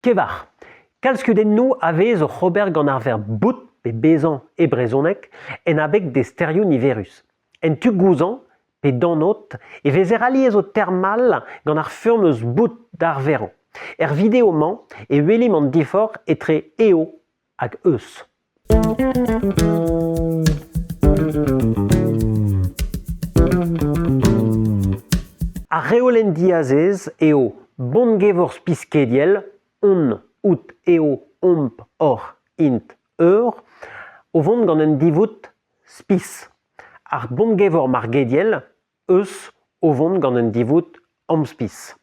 Kevar. Kalzskeudennoù a vez oc'h ober gant ar verb bout pe bezañ e brezhoneg en abeg d'e sterioù niverus. En tu gouzañv pe danot e vezer alies o termal gant ar furm eus bout d'ar verv. Er video-mañ e welimp an diforc'h etre eo hag eus. Ar reolenn diazez eo bongevorz piskediel on out eo omp oc'h int eur o vont gant un divoud spis. Ar bongevor margediel eus o vont gant un divoud amspis.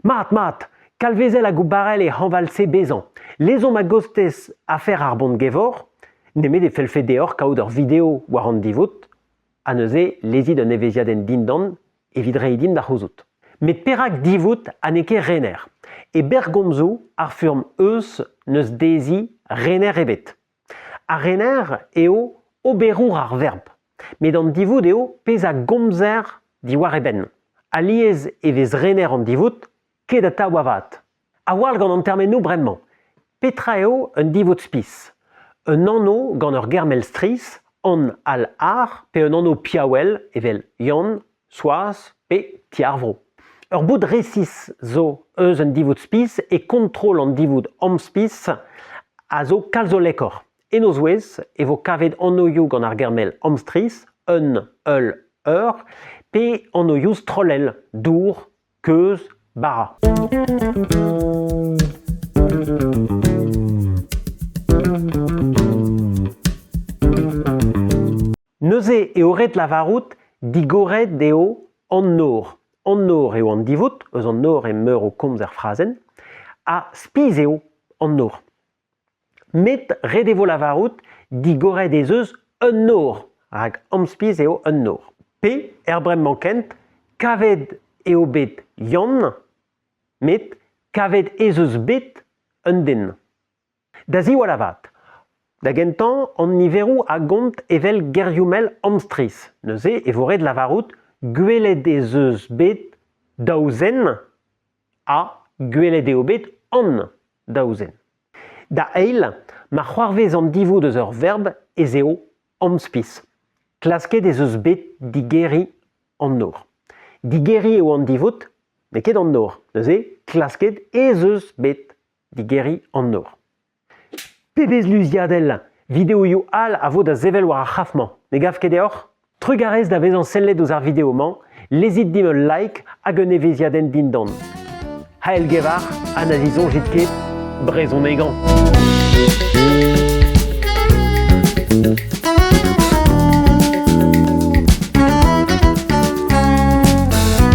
Mat, mat, Kalvezel hag Barrel e hañval-se bezañ. Lezomp a-gostez afer ar Bont-Gevor, nemet e fellfe deoc'h kaout ur video war an divoud, ha neuze lezit un evezhiadenn dindan evit reiñ din da c'houzout. Met perak divoud ha n'eo ket rener? E berrgomzoù ar furm eus n'eus dezhi rener ebet. Ar rener eo oberour ar verb, met an divoud eo pezh a gomzer diwar e benn. Alies e vez rener an divoud ket atav avat. A-walc'h gant an termenoù bremañ. Petra eo un divoud spis? Un anv gant ur ger mell strizh, an al ar, pe un anv piaouel evel Yann, Soaz pe Ti ar Vro. Ur boud resis zo eus un divoud-spis e kontrol an divoud amspis a zo kalz hollekoc'h. En o zouez e vo kavet anoioù gant ar ger-mell amstris, un, ul, eur, pe anoioù strollel, dour, keuz bara. Neuze eo ret lavarout digoret eo an nor. An nor eo an divoud, eus an nor emeur o komz er frazenn, ha spiz eo an nor. met ret e vo lavarout digoret ez eus un nor rak amspis eo un nor. Pe, er bremañ kent, kavet eo bet Yann, met kavet ez eus bet un den. Da ziwall avat, da gentañ an niveroù a gont evel gerioù-mell amstris. Neuze e vo ret lavarout gwelet ez eus bet daou zen ha gwelet eo bet an daou zen. Da eil, ma c'hoarvez an divoud eus ur verb ez eo amspis. Klasket ez eus bet digeriñ an nor. Digeriñ eo an divoud, met ket an nor. Neuze, klasket ez eus bet digeriñ an nor. Pebezh luziadell ! Videoioù all a vo da sevel war ar c'hraf-mañ. Ne gav ket deoc'h ? Trugarez da vezañ sellet ouzh ar video-mañ, lezit dimp ul like hag un evezhiadenn dindan. Hael-gevar ha na zisoñjit ket, brezhonegañ.